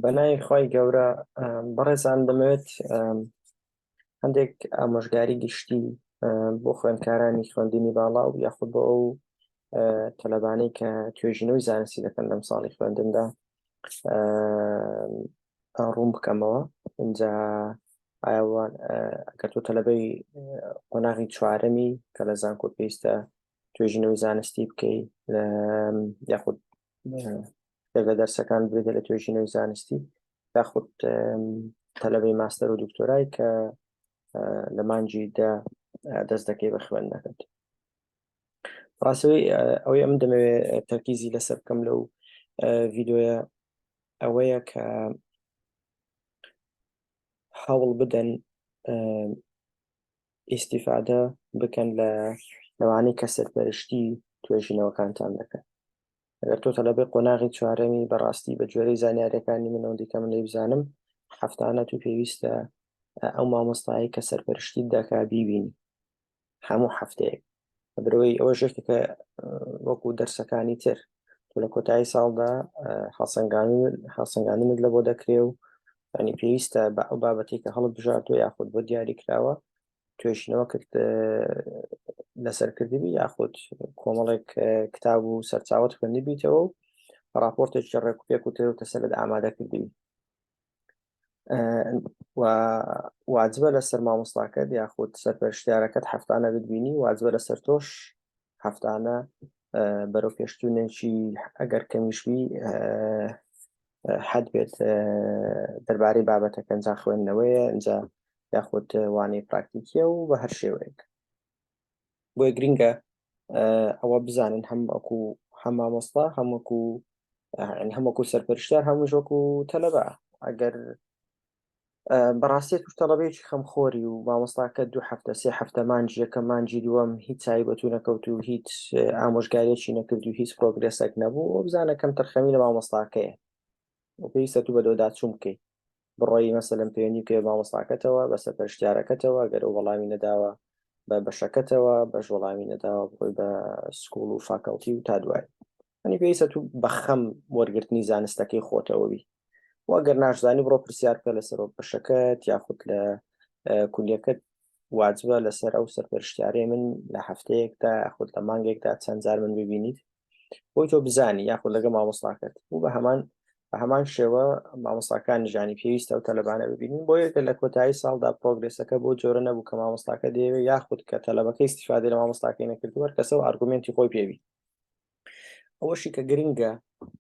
بەناوی خوای گەورە بەڕێزان دەمەوێت هەندێک ئامۆژگاری گشتی بۆ خوێندکارانی خوێندنی باڵا و یاخود بۆ ئەو تەلەبانەی کە توێژینەوەی زانستی دەکەن لەم ساڵی خوێندندا ڕوون بکەمەوە اینجا ئایوان کە تۆ تەلەبەی قۆناغی چوارەمی کە لە زانکۆ پێویستە توێژینەوەی زانستی بکەی یاخود لەگە دەرسەکان بێتە لە توێژینەوەی زانستی یاخود تەلەبەی ماستەر و دکتۆرای کە لە مانجی دا دەست دەکەی بە خوێن نەکرد ڕاستەوەی ئەوەی ئەم دەمەوێت تەرکیزی لەسەر بکەم لەو ڤیددیوە ئەوەیە کە هەوڵ بدەن ئیستیفادە بکەن لە لەوانەی کە سەرپەرشتی توێژینەوەکانتان دەکەن ئەگەر تۆ تەلەبەی قۆناغی چوارەمی بەڕاستی بە جۆرەی زانیارەکانی منەوەندیکە من لەیبزانم هەفتانە تو پێویستە ئەو مامۆستایی کە سەرپەرشتی دەکا بیبینی هەموو هەفتەیەک بەدرەوەی ئەوە ژێکەکە وەکو دەرسەکانی تر تۆ لە کۆتایی ساڵدا هەڵسەنگانمت لە بۆ دەکرێ و ینی پێویستە بە ئەو بابەتێکە هەڵت بژارت و یاخود بۆ دیاری کراوە توێژینەوە کرد لەسەرکردبی یاخود کۆمەڵێک کتاب و سەرچاوت خوێندبییتەوە و راپۆرتێکی ڕێکوپێک و تێوتە سەرت ئامادە کردبی و واجبە لەسەر مامۆستاکەت یاخود سەرپەرشتیارەکەت هەفتانە ببینی واجبە لەسەر تۆش هەفتانە بەرەو پێشتونێکی ئەگەر کەمیشبی حەد بێت دەربارەی بابەتەکە ئەنجا خوێندنەوەیە ئەجا یاخود وانەی پراکتیکیە و بە هەر شێوەیەک بۆیە گرنگە ئەوە بزانن هەم ئەکو هەم مامۆستا هەموەکو هەموەکو سەرپەرشتار هەموو ژۆکو تەلەبە ئەگەر بەڕاستی توش تەڵەبێکی خەمخۆری و مامۆستاکە دوو هەفتە سێ هەفتە مانجی یەکە مانجی دووەم هیچ چای بەتو نەکەوت و هیچ ئامۆژگاریەکی نەکرد و هیچ پرۆگرێسێک نەبوو بزانە کەم تەرخەمی لە مامۆستاکەیە پێویستە تو بە دۆداچوون بکەیت بڕۆی مەسەلەن پەیوەندی بکەی بە مامۆستاکەتەوە بە سەرپەرشتیارەکەتەوە گەر ئەو وەڵامی نەداوە بە بەشەکەتەوە بەش وەڵامی نەداوە بڕۆی بە سکوڵ و فاکەڵتی و تا دوای ئەنی پێویستە تو بەخەم وەرگرتنی زانستەکەی خۆتەوەبی وەگەر ناشزانی بڕۆ پرسیار بکە لە سەرۆک بەشەکەت یاخود لە کولەکەت واجبە لەسەر ئەو سەرپەرشتیارێ من لە هەفتەیەکدا یاخود لە مانگێکدا چەند جار من ببینیت بۆی تۆ بزانی یاخود لەگە مامۆستاکەت بوو بە هەمان بە هەمان شێوە مامۆستاکان ژانی پێویستە و تەلبانە ببینین بۆ یەکە لە کۆتایی ساڵدا پرۆگرسەکە بۆ جۆرە نەبوو کە مامۆستاکە دەیەوێت یاخود کە تەلبەکەی استفادە لە مامۆستاکەی نەکردوەر کەسە و ئارگومنتی خۆی پێوی ئەوەشی کە گرنگە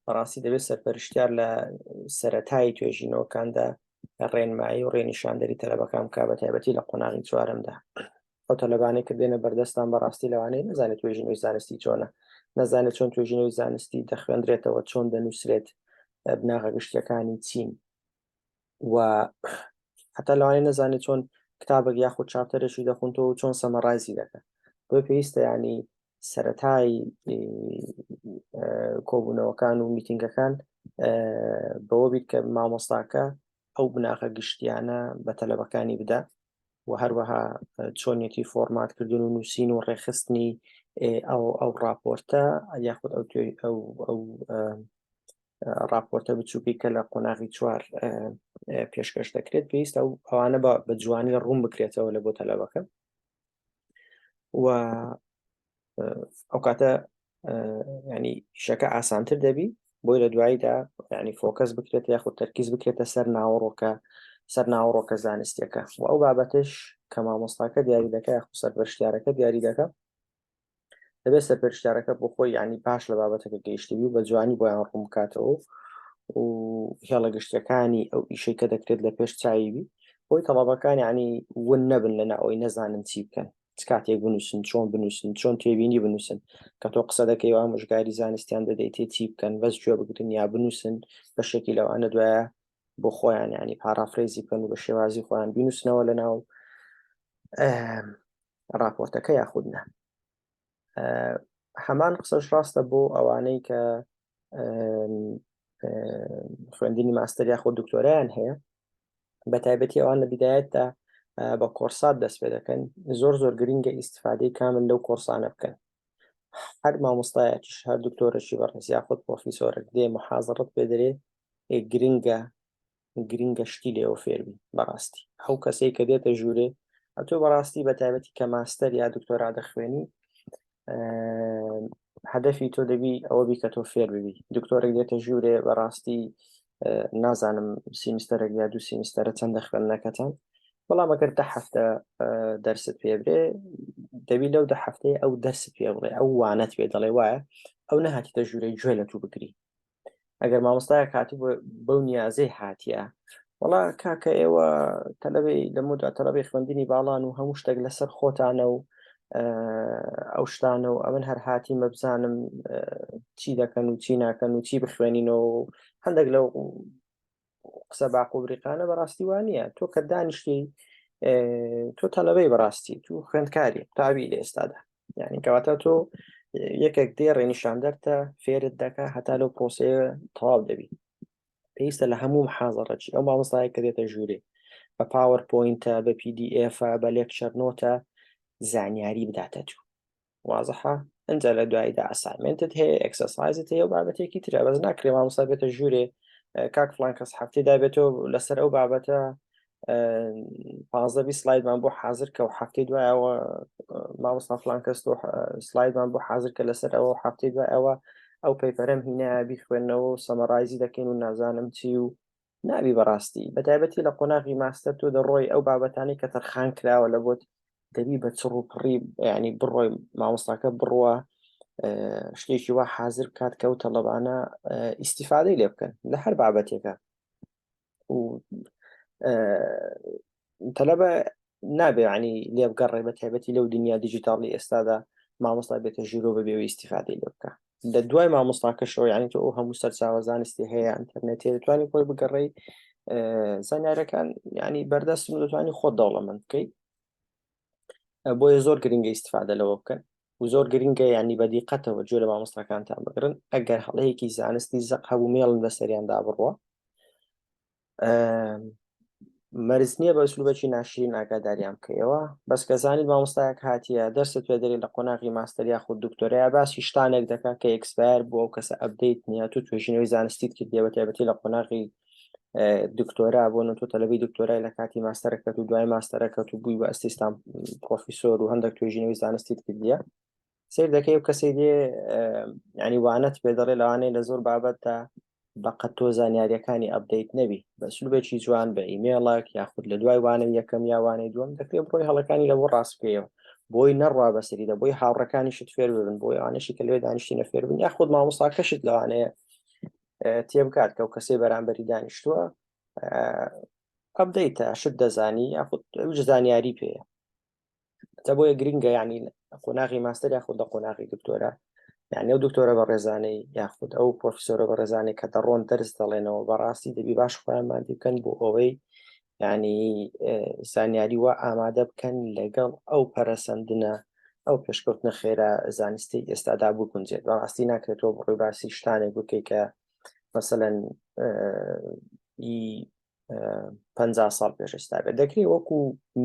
بەڕاستی دەبێت سەرپەرشتیار لە سەتایی توێژینەوەکاندا ڕێنمایی و ڕێنیشاندەری تەلەبەکان کا بە تایبەتی لە قۆناغی چوارمدا ئەو تەلەبانێک کە دێنە بەردەستان بەڕاستی لەوانەیە نزانێت توێژینەوەی زانستی چۆنە نەزانێت چۆن توێژینەوەی زانستی دەخوێندرێتەوە چۆن دەنووسرێت بناغە گشتیەکانی چین و حتا لەوانێ نەزانێت چۆن کتابێک یاخود چاپتەرێکی دەخونتەوە و چۆن سەمەڕایزی دەکەن بۆ پێویستە ینی سەتای کۆبوونەوەکان و میتینگەکان بەوە بیت کە مامۆستاکە ئەو بناغە گشتیانە بە تەلەبەکانی بدا و هەروەها چۆنیەتی فۆرمات کردن و نووسین و ڕێخستنی ئەو ئەو راپۆرتە یاخود ئەو ئەو ڕاپۆرتە بچووکی کە لە قۆناغی چوار پێشکەش دەکرێت پێویستە و ئەوانە بە بە جوانی ڕوون بکرێتەوە لە بۆ تەلەبەکە و ئەو کاتە ینی شەکە ئاسانتر دەبی بۆی لە دواییدا ینی فۆکەس بکرێت یاخود تەرکیز بکرێتە سەر ناوەڕۆکە سەر ناوەڕۆکە زانستیەکە و ئەو بابەتش کە مامۆستاکە دیاری دەکە یاخود سەر بەشتارەکە دیاری دەکە دەبێت سەرپێرشتارەکە بۆ خۆی ینی پاش لە بابەتەکە گەیشتبی و بە جوانی بۆیان ڕوون بکاتەوە و هێڵە گشتەکانی ئەو ئیشەی کە دەکرێت لە پێش چاویبی بۆی تەڵابەکان ینی ون نەبن لەنا ئەوی نەزانن چی بکەن کاتێک بنووسن چۆن بنووسن چۆن تێبینی بنووسن کە تۆ قسە دەکەی و ئامۆژگاری زانستیان دەدەیت تێ چی بکەن بەس گوێ بگرن یا بنووسن بە شێکی لەوانە دوایە بۆ خۆیان ینی پارافرێزی بکەن و بە شێوازی خۆیان بینوسنەوە لە ناو ڕاپۆرتەکە یاخود نە هەمان قسەش ڕاستە بۆ ئەوانەی کە خوێندنی ماستەر یاخۆ دکتۆریان هەیە بە تایبەتی ئەوان لە بدایەتدا بە کۆرسات دەست پێ دەکەن زۆر زۆر گرنگە ئیسفادەی کامل لەو کۆرسانە بکەن هەر مامۆستایەکیش هەر دکتۆرەشی بەڕێز یاخود پۆفیسۆرە دێ محازڕت پێدرێ گرنگە گرنگە شتی لێەوە فێربی بەڕاستی ئەو کەسەی کە دێتە ژوورێ ئەتۆ بەڕاستی بە تایبەتی کە ماستەر یا دکتۆرا دەخوێنی هەدەفی تۆ دەبی ئەوە بی کە تۆ فێر ببی دکتۆرێک دێتە ژوورێ بەڕاستی نازانم سیمستەرە یا دوو سیمستەرە چەند دەخوێندنەکەتان بەڵام ئەگەر دە هەفتە دەرست پێ برێ دەبی لەو دە هەفتەیە ئەو دەرس پێ بڵێ ئەو وانەت پێ دەڵێ وایە ئەو نەهاتیتە ژوورەی گوێ لە تو بگری ئەگەر مامۆستایە کاتی بەو نیازەی هاتیە وڵا کاکە ئێوە تەلەبی لەمەدا تەلەبی خوێندنی باڵان و هەموو شتێک لەسەر خۆتانە و ئەو شتانە و ئەمن هەر هاتی مەبزانم چی دەکەن و چی ناکەن و چی بخوێنینەوە هەندێک لەو قسە باق و بریقانە بەڕاستی وانە تۆ کە دانیشتی تۆ تەلەبەی بەڕاستی تو خوێندکاری تاوی لە ئێستادا یعنی کەواتە تۆ یەکێک دێ ڕێنیشان دەرتە فێرت دەکە هەتا لەو پرۆسەیە تەواو دەبی پێویستە لە هەموو حازڕەچی ئەو مامۆستایە کە دێتە ژوورێ بە پاوەرپۆینتە بە PDF بە لێکچەر نۆتە زانیاری بداتە تو وازحە ئەنجا لە دواییدا ئەسایمنتت هەیە ئەکسەسایزت هەیە و بابەتێکی ترە بەس ناکرێ مامۆستا بێتە ژوورێ کاک فلان کەس هەفتەی دابێتەوە لەسەر ئەو بابەتە پازدە سلایدمان بۆ حاضر کە و هەفتەی دوایەوە مامۆستا فلان کەس تۆ سلایدمان بۆ حاضر کە لەسەر ئەوە هەفتەی دوایەوە ئەو پەیپەرم هینا بیخوێندنەوە و سەمەڕایزی دەکەین و نازانم چی و نابی بەڕاستی بەتایبەتی لە قۆناغی ماستەر تۆ دەڕۆی ئەو بابەتانی کە تەرخان کراوە لە بۆت دەبی بە چڕ و پڕی ینی بڕۆی مامۆستاکە بڕوە شتێکی وا حاضر بکات کە و تەلبانە ئیسیفادەی لێ بکەن لە هەر بابەتێکە و تەلەبە نابێ عنی لێبگەڕێ بە تایبەتی لەو دنیا دیجیتاڵی ئێستادا مامۆستا بێتە ژورۆ بە بێوە ئیسیفادەی لێ بکە لە دوای مامۆستاکەشەوە یعنی تۆ ئەو هەموو سەرچاوە زانستی هەیە ئەتەرنێتی دەتوانانی خۆی بگەڕی زانارەکان ینی بەردەست دەتوانانی خۆ دەوڵەمەند بکەیت بۆیە زۆر گرنگە ئیسیفادە لەوە بکەن و زۆر گرنگە ینی بەدی قەتەوە جۆ لە مامۆستاکانتان بگرن ئەگەر هەڵەیەکی زانستی زەق هەبوو مێڵن بەسەریاندا بڕوە مەرز نییە بە سلوبەکی ناشرین ئاگاداریان بکەیەوە بەس کە زانیت مامۆستایەک هاتیە دەرسە توێدەری لە قۆناغی ماستەر یاخود دکتۆریا باسی شتانێک دەکات کە ئەکسپار بووە و کەسە ئەبدەیت نیە تو توێژینەوەی زانستیت کردیەوە تێبەتی لە قۆناغی دکتۆرا بۆ نۆ تۆ تەلبی دکتۆرای لە کاتی ماستەرەکەت و دوای ماستەرەکەت و بووی بە ئەسیستان پرۆفیسۆر و هەندێک توێژینەوەی زانستیت کردیە سیر دەکەی و کەسی دێ ینی وانەت پێ دەڵێ لەوانەیە لە زۆر بابەتدا بەقەت تۆ زانیاریەکانی ئەبدەیت نەبی بەسلوبێکی جوان بە ئیمێڵک یاخود لە دوای وانە یەکەم یاوانەی دوم دەکرێت بڕۆی هەڵەکانی لەەوە ڕاستکەیەوە بۆی نەڕوا بەسەریدا بۆی هاوڕەکانیشت فێر ببن بۆ یوانەشی کە لێ دانیشتینە فێربن یاخود مامۆستاکەشت لەوانەیە تێبکات کە و کەسێ بەرامبەری دانیشتووە ئەبدەیتە شت دەزانی یاخود زانیاری پێەیە تە بۆیە گرنگە یعنی قۆناغی ماستەر یاخود لە قۆناغی دکتۆرە یعنی ئەو دکتۆرە بە ڕێزانەی یاخود ئەو پرۆفیسۆرە بە ڕێزانەی کە دەڕۆن دەرس دەڵێنەوە بەڕاستی دەبی باش خۆیان مادی بکەن بۆ ئەوەی ینی زانیاری وا ئامادە بکەن لەگەڵ ئەو پەرەسەندنە ئەو پێشکەوتنە خێرا زانستی ئێستادا بگونجێت بەڕاستی ناکرێتەوە بڕی باسی شتانێک بکەیت کە مەسەەن پ ساڵ پێش ئێستا بێت دەکرێت وەکو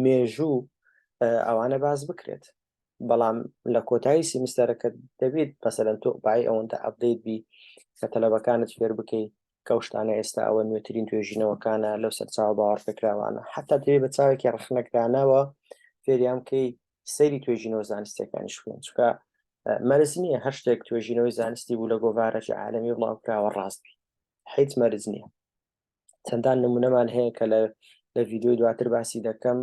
مێژوو ئەوانە باز بکرێت بەڵام لە کۆتایی سیمستەرەکە دەبێت بەسەرەن تۆ بای ئەوەندە ئەبدەیت بی کە تەلەبەکانت فێر بکەیت کەوشتانە ئێستا ئەوە نوێترین توێژینەوەکانە لەو سەرچاو باوەڕپێکراوانە حتا دەێ بە چاوێکی ڕخنەکرانەوە فێریان کەی سەیری توێژینەوە زانستەکانی شوێن چکە مەرز نییە هەر شتێک توێژینەوەی زانستی بوو لە گۆڤارەی عالمی بڵاوکراوە ڕاستبی حیت مەرز نییە چەندان نمونەمان هەیە کە لە لە ڤیددیوی دواتر باسی دەکەم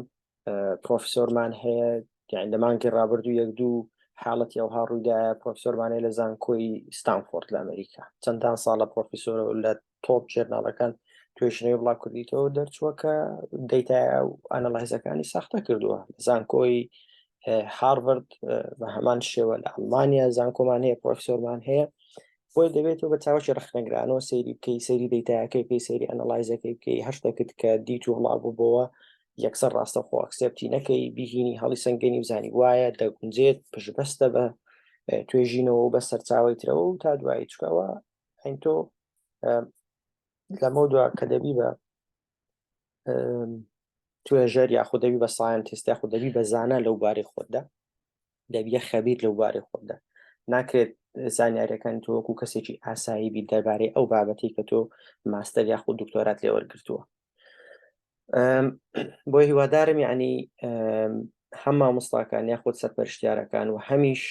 پرۆفسۆرمان هەیە یان لە مانگی ڕابردوو یەک دوو حاڵەتی ئەوها ڕوویدایە پرۆفسۆرمانەیە لە زانکۆی ستانفۆرد لە ئەمریکا چەندان ساڵە پرۆفیسۆر لە تۆپ جێرناڵەکان توێژنەوەی بڵا کوردیتەوە دەرچووە کە دەیتا ئەنەڵایزەکانی ساختە کردووە زانکۆی هارڤرد بە هەمان شێوە لە ئەڵمانیا زانکۆمان هەیە پرۆفسۆرمان هەیە بۆیە دەبێت تۆ بە چاوەکی ڕخنەگرانەوە سەیری بکەی سەیری دەیتایەکەی بکەی سەیری ئەنەلایزەکەی بکەی هەر شتەکت کە دیت و هەڵا بوو بۆەوە یەکسەر ڕاستە خۆ ئەکسپتی نەکەی بهینی هەڵی سنگەنی بزانی وایە دەگونجێت پشبەستە بە توێژینەوە بە سەرچاوی ترەوە و تا دوایی چکەوە ئەین تۆ لەمە دو کە دەبی بە توێژەر یاخود دەبی بە ساینتیست یاخود دەبی بە زانە لەو بارەی خۆتدا دەبیە خەبیت لەو بارەی خۆتدا ناکرێت زانیارەکان تۆ وەکو کەسێکی ئاسایی بی دەربارەی ئەو بابەتی کە تۆ ماستەر یاخود دکتۆرات لێ وەرگتووە بۆ هیوادارم یعنی هەم مامۆستاکان یاخود سەرپەرشتیارەکان و هەمیش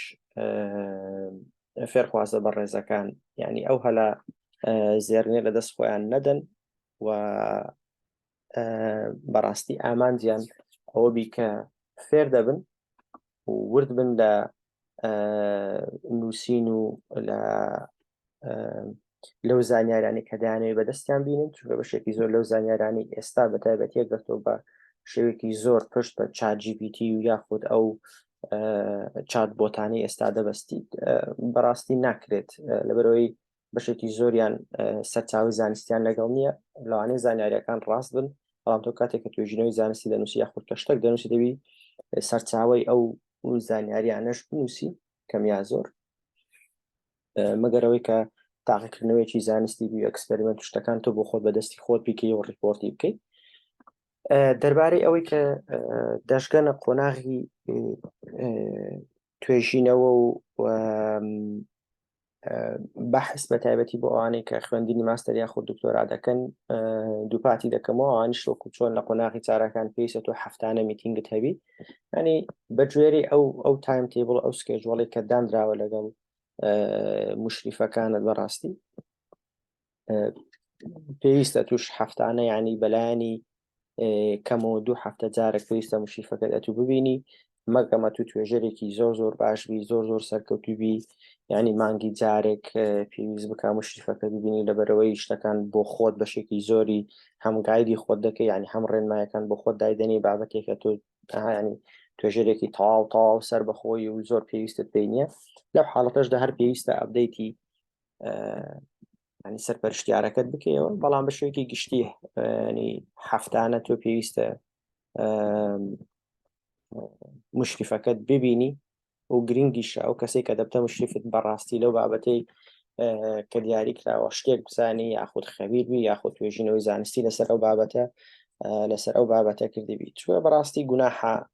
فێرخوازە بە ڕێزەکان یعنی ئەو هەلا زێرنێ لە دەست خۆیان نەدەن و بەڕاستی ئامانجیان ئەوە بی کە فێر دەبن ورد بن لە نووسین و لە لەو زانیارانی کە دانەوەی بەدەستیان بینن چونکە بەشێکی زۆر لەو زانیارانی ئێستا بە تایبەتە گەرتۆ بە شێوێکی زۆر پشت بە چاجیBT و یاخود ئەو چات بۆتانی ئێستا دەبەستیت بەڕاستی ناکرێت لەبەرەوەی بەشێکی زۆریان سەرچاوی زانستیان لەگەڵ نییە لەوانەیە زانیاریەکان ڕاست بن بەڵام تۆ کاتێک کە توێژینەوەی زانستی دەنووسی یاخود کە شتێک دەنووسی دەوی سەرچاوی ئەو زانیاریانەش بنووسی کەمیا زۆر مەگەرەوەی کە تاقیکردنەوەیکی زانستی بی ئەکسپریمنت شتەکان تۆ بۆ خۆت بەدەستی خۆت بیکەی و ڕیپۆرتی بکەیت دەربارەی ئەوەی کە دەشگەنە قۆناغی توێژینەوە و بەحس بە تایبەتی بۆ ئەوانەی کە خوێندنی ماستەر یاخود دکتۆرا دەکەن دووپاتی دەکەمەوە ئەوانیش وەکو چۆن لە قۆناغی چارەکان پێیسە تۆ هەفتانە میتینگت هەبی ینی بەگوێری ئەو ئەو تایم تیبڵ ئەو سکێجوڵی کە دانراوە لەگەڵ مشریفەکانت بەڕاستی پێویستە توش هەفتانە ینی بەلایانی کەمەوە دوو هەفتە جارە پێویستە مشیفەکەت ئەتو ببینی مەگەمە تو توێژەرێکی زۆر زۆر باشبی زۆر زۆر سەرکەوتوبی ینی مانگی جارێک پێویست بک مشیفەکە ببینی لەبەرەوەی شتەکان بۆ خۆت بەشێکی زۆری هەمگایدی خۆت دەکەی ینی هەم ڕێنمایەکان بۆ خۆت دایدەنی بابەتێکە تۆ ینی توێژەرێکی تەواو تەواو سەر بەخۆی و زۆر پێویستت پێ نیە لەو حاڵەتەشدا هەر پێویستە ئەبدەیتی ینی سەرپەرشتیارەکەت بکەیەوە بەڵام بە شوێکی گشتی ینی هەفتانە تۆ پێویستە مشریفەکەت ببینی و گرنگیش ئەو کەسێک کە دەبتە مشریفت بەڕاستی لەو بابەتەی کە دیاری کراوە شتێک بزانانی یاخود خەبیر بی یاخود توێژینەوەی زانستی لەسەر ئەو بابەتە لەسەر ئەو بابەتە کردبی چوە بەڕاستی گوناحە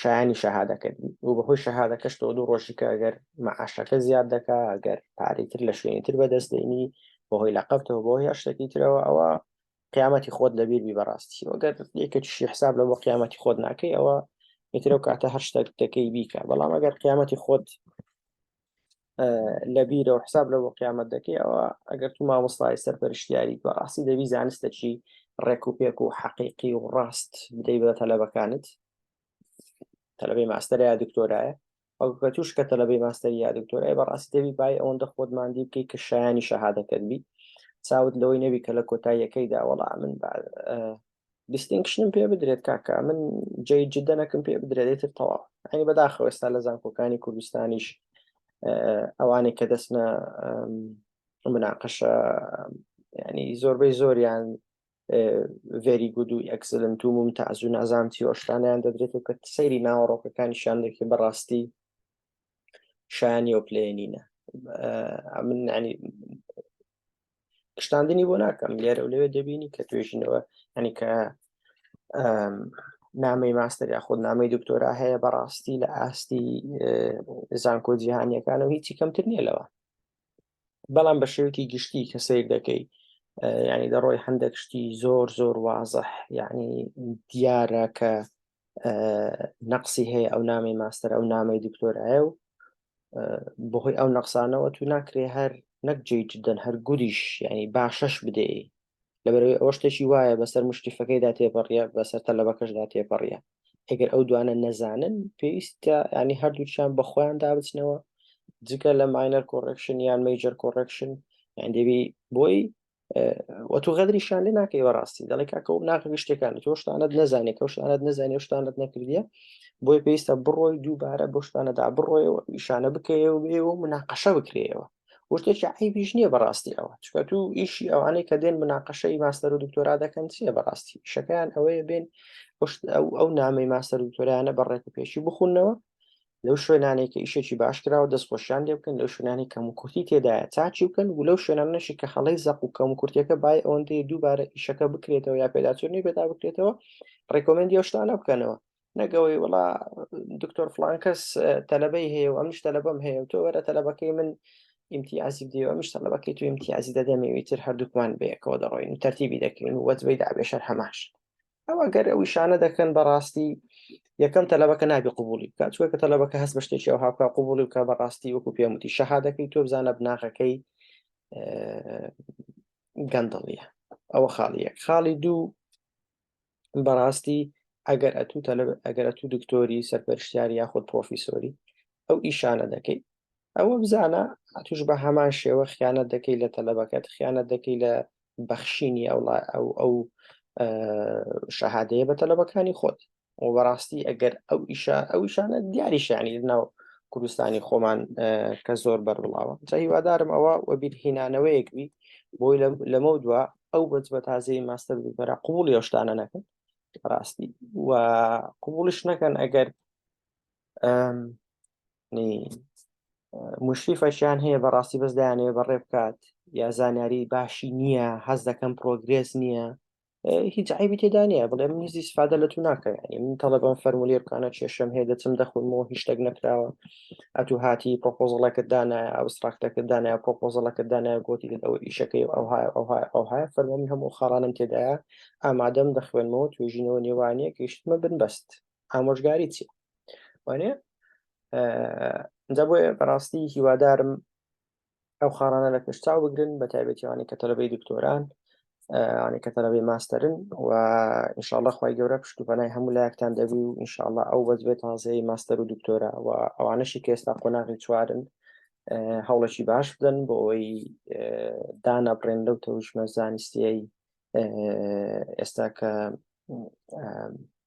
شایانی شەهادەکە و بەهۆی شەهادەکەش تۆ دوو ڕۆژی کە ئەگەر مەعاشەکە زیاد دەکا ئەگەر پارەیتر لە شوێنی تر بەدەست دێنی بەهۆی لە قەفتەوە بۆ هە شتێکی ترەوە ئەوە قیامەتی خۆت لەبیر بی بەڕاستی وەگەر یەکەکیشی حساب لە بۆ قیامەتی خۆت ناکەی ئەوە یترەو کاتە هەر شتێک دەکەی بیکە بەڵام ئەگەر قیامەتی خۆت لە بیرە و حساب لە بۆ قیامەت دەکەی ئەوە ئەگەر تو مامۆستای سەرپەرشتیاری بە ڕاستی دەبی زانستەکی ڕێک و پێک و حەقیقی و ڕاست بدەی بە تەلەبەکانت تەلەبەی ماستەر یا دکتۆرایە ئەوکە توش کە تەلەبەی ماستەر یا دکتۆرای بە ڕاستی دەبی بای ئەوەندە خۆت مادی بکەی کە شایانی شەهادەکەت بی چاوت لەوەی نەبی کە لە کۆتاییەکەی داوەڵا من دیستینکشنم پێ بدرێت کاکە من جێی جدەنەکم پێ بدرێت ئیتر تەواو ئەنی بەداخەوە ئێستا لە زانکۆکانی کوردستانیش ئەوانێک کە دەستنە مناقەشە ینی زۆربەی زۆریان ڤێری گود و ئەکسلنت و ممتاز و نازام تیۆشتانیان دەدرێت و کە سەیری ناوەڕۆکەکانی شان دەکرێت بەڕاستی شایانی و پلێنینە من ینی شتاندنی بۆ ناکەم لێرە و لەوێ دەبینی کە توێژینەوە ئەنی کە نامی ماستەر یاخود نامی دکتۆرا هەیە بەڕاستی لە ئاستی زانکۆ جیهانیەکان و هیچی کەمتر نییە لەوە بەڵام بە شێوکی گشتی کە سیر دەکەی ینی دەڕۆی هەندێک شتی زۆر زۆر وازح یعنی دیارە کە نەقسی هەیە ئەو نامی ماستەر ئەو نامی دکتۆرایە و بەهۆی ئەو نەقسانەوە تو ناکرێ هەر نەک جێ جدەن هەر گوریش ینی باشەش بدەی لەبەرەوەی ئەوە شتێکی وایە بەسەر مشتیفەکەیدا تێپەڕە بەسەر تەلەبەکەشدا تێپەڕە ئەگەر ئەو دوانە نەزانن پێویستە ینی هەردووچیان بەخۆیان دابچنەوە جگە لە ماینەر کۆڕکشن یان میجر کۆڕکشن یان دەبی بۆی وە تۆ غەدریشان لێ ناکەی بەڕاستی دەڵێک کاکە و ناکە شتەکان تۆ شتانت نەزانێت کە شتانت نەزانێ و شتانت نەکردە بۆی پێویستە بڕۆی دووبارە بۆ شتانەدا بڕۆیەوە ئیشانە بکەیەوە بێەوە مناقەشە بکرێەوە وشتێکی عیبیش نییە بەڕاستی ئەوە چکە تو ئیشی ئەوانەی کە دێن مناقەشەی ماستەر و دکتۆرا دەکەن چیە بەڕاستی شەکەیان ئەوەیە بێن ئەو ئەو نامی ماستەر دکتۆریانە بەڕێک و پێشی بخونەوە لەو شوێنانەی کە ئیشێکی باش کراوە دەست خۆشیان لێ بکەن لەو شوێنانی کەم و کورتی تێدایە چاچی بکەن و لەو شوێنانەشی کە هەڵەی زەق و کەم و کورتەکە بای ئەوەندەی دووبارە ئیشەکە بکرێتەوە یا پێداچوونی پێدا بکرێتەوە ڕێکۆمەندی ئەو شتانە بکەنەوە نەگەوەی وڵا دکتۆر فلان کەس تەلبەی هەیە و ئەمش تەلبم هەیە و تۆ وەرە تەلبەکەی من ئیمتیازی بدەوە ئەمش تەلبەکەی تو ئیمتیازی دەدەمەوی تر هەردووکمان بەیەکەوە دەڕۆین و تەرتیبی دەکەین و وەجبەی دابێشەر هەماش ئەوە گەر ئەو شانە دەکەن بەڕاستی یەکەم تەلەبەکە نابی قوبولی بکات چوەکە تەلەبەکە هەست بە شتێکی ئەو هاوکە قوبولی بکە بەڕاستی وەکو پێموتی شەهادەکەی تۆ بزانە بناغەکەی گەندڵیە ئەوە خاڵی یەک خاڵی دوو بەڕاستی ئەگەر ئەتوو تەلب ئەگەر ئەتوو دکتۆری سەرپەرشتیاری یاخود پرۆفیسۆری ئەو ئیشانە دەکەیت ئەوە بزانە ئەتوش بە هەمان شێوە خیانەت دەکەی لە تەلەبەکەت خیانەت دەکەی لە بەخشینی ئەوڵا ئەو ئەو شەهادەیە بە تەلەبەکانی خۆت و بەڕاستی ئەگەر ئەو ئیشە ئەو شانە دیاری شانی ناو کوردستانی خۆمان کە زۆر بەربڵاوە جا هیوادارم ئەوە وەبیر هینانەوەیەک بی بۆی لەمە دووە ئەو بەج بە تازەی ماستەر بەرە قوڵ یشتانە نەکەن ڕاستی و قوڵش نەکەن ئەگەر مشریفەشیان هەیە بەڕاستی بەس دایانەوە بەڕێ بکات یا زانیاری باشی نییە هەز دەکەم پرۆگرێس نییە هیچ عیبی تێدا نیە بڵێ من هیچ سفادە لە تو ناکەم ینی من تەڵەبم فەرمولی بکانە کێشم هەیە دەچم دەخونمەوە هیچ شتێک نەکراوە ئەتو هاتی پۆپۆزڵەکە دانە ئەوستراکتەکە دانە پۆپۆزڵەکە دانە گوتی ئەو ئیشەکەی ئەو های ئەو های ئەو های فەرمەمی هەموو خاڵانم تێدایە ئامادەم دەخوێنمەوە توێژینەوە نێوانەیە گەیشتمە بن بەست ئامۆژگاری چیە وانە جا بۆ بەڕاستی هیوادارم ئەو خاڵانە لە پێشتا بگرن بە تایبەتیوانی کە تەلبەی دکتۆران ئەوانەی کە تەلبەی ماستەرن و ئینشاءله خی گەورە پشت و پەنای هەموو لایەکتان دەبی و ئینشاءله ئەو بەزبێت تازەی ماستەر و دکتۆرە و ئەوانەشی کە ئێستا قۆناغی چوارن هەوڵەکی باش بدەن بۆ ئەوەی دانابڕێن لەو تەوشمە زانستیایی ئێستا کە